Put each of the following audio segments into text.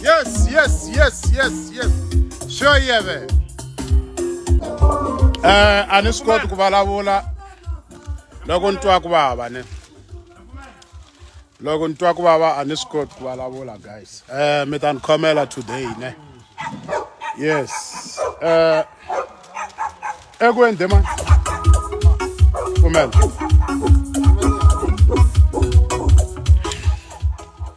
Yes, yes, yes, yes, yes. Sure, yeah, man. Eh, a ni swi koti ku vulavula loko ni twa ku vava ne loko ni twa ku vava a ni swi koti ku vulavula guys eh mi ta ni khomela today ne yes eh eku ende ma pfumela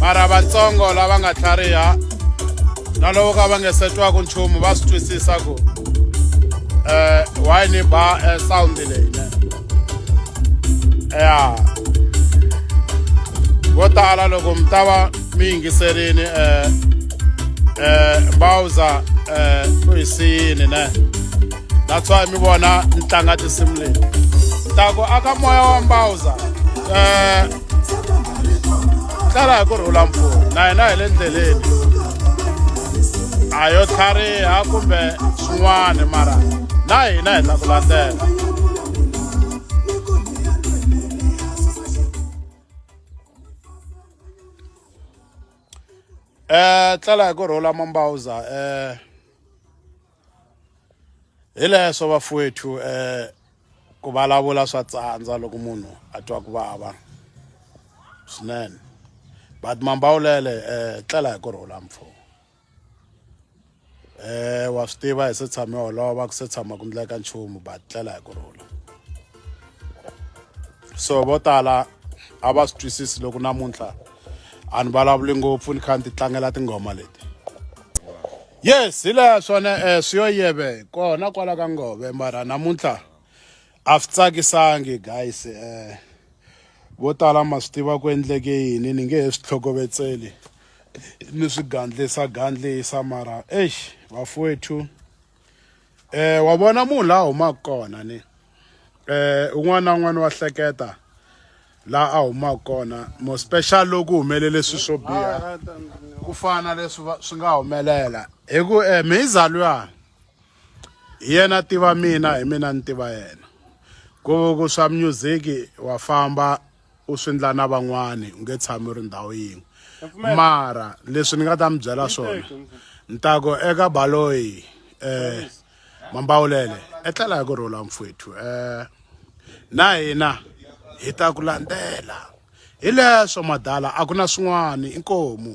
mara vatsongo lava nga tlhariha na loko ka va nge se twaku nchumu va swi twisisa ku um why ni ba eh, sound leyi ne ya vo tala loko mi ta va mi yingiserini um um mbawuza um u hi siyini ne that's why mi vona ni tlanga tinsimu leti ni ta ku aka moya wa mbawuza um tsala hi ku rhula mpfula na hina hi le ndleleni a yo tlhariha kumbe swin'wana mara na hina hi ta ku landzela eh tlala hi ku rhula mambawuza eh hi leswo vafuwethu um ku vulavula swa tsandza loko munhu a twa ku vava swinene but mambawulele um tlela hi ku rhula mpfo um wa swi tiva hi se tshame holova ku se tshama ku ndleka nchumu but tlela hi ku rhula so vo tala a va swi twisisi loko namuntlha a ni vulavuli ngopfu ni kha ni ti tlangela tinghoma leti yes hi laha swona um eh, swi yo yeve kona kwala ka ngove mara namuntlha a swi tsakisangi guys um vo tala ma swi tiva ku endleke yini ni nge he swi tlhokovetseli ni swi gandlisa gandlisa mara eish vafowethu Eh wa vona munhu la humaka kona ni eh un'wana na un'wana wa hleketa la a humaka kona mo special loko humelele swilo swo biha ku fana leswi swi nga humelela hi ku eh mhiza luya hi yena tiva mina hi mina ni tiva yena ku ku swa music wa famba u swi ndla na van'wani u nge tshami u ri ndhawu yin'we mara leswi ni nga ta mi byela swona ni ta ku eka baloyi um mambawulele etlela hi ku rhula mfwethu um na hina hi ta ku landzela hi leswo madala a ku na swin'wana inkomu